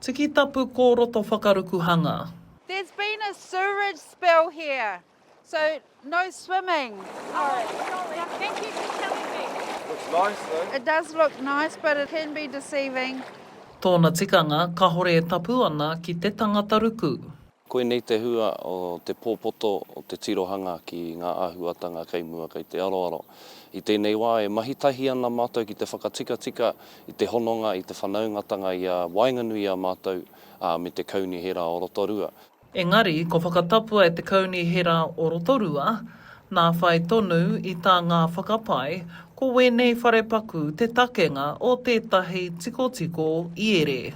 Tiki tapu kō roto whakaruku hanga. There's been a sewerage spill here so no swimming. Thank you for telling me. Looks nice though. It does look nice but it can be deceiving. Tōna tikanga, kahore e tapu ana ki te tangata ruku. Koinei te hua o te pōpoto o te tirohanga ki ngā āhuatanga kei mua, kei te aroaro. I tēnei wā e mahi tahi ana mātou ki te whakatikatika i te hononga, i te whanaungatanga i a waenganui i a mātou, ā, me te Kaunihera o Rotorua. Engari, kua whakatapua e te Kaunihera o Rotorua, nā whai tonu i tā ngā whakapae, ko wēnei wharepaku te takenga o tētahi tikotiko iere.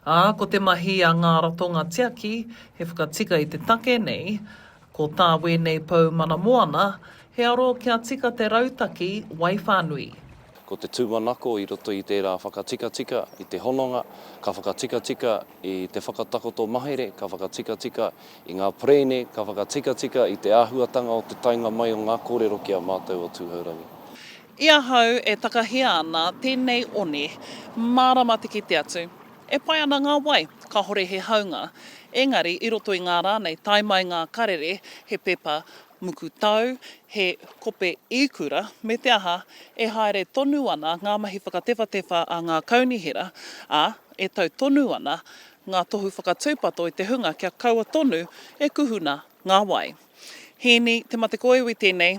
Ā, ko te mahi a ngā ratonga tiaki, he whakatika i te take nei, ko tā wēnei pou mana moana, he aro kia tika te rautaki wai whānui. Ko te tūmanako i roto i tērā whakatikatika i te hononga, ka whakatikatika i te whakatakoto mahere, ka whakatikatika i ngā perēne, ka whakatikatika i te āhuatanga o te taenga mai o ngā kōrero ki a mātou o Tūhourangi. I ahau e takahia ana tēnei one, mārama te kite atu. E pai ana ngā wai, kāhore he haunga. Engari, i roto i ngā rā nei, tae mai ngā karere, he pepa muku tau, he kope īkura, me te aha, e haere tonu ana ngā mahi whakatewhatewha a ngā kaunihera, ā, e tau tonu ana ngā tohu whakatūpato i te hunga kia kaua tonu e kuhuna ngā wai. Hēni Te Matekoiwi tēnei,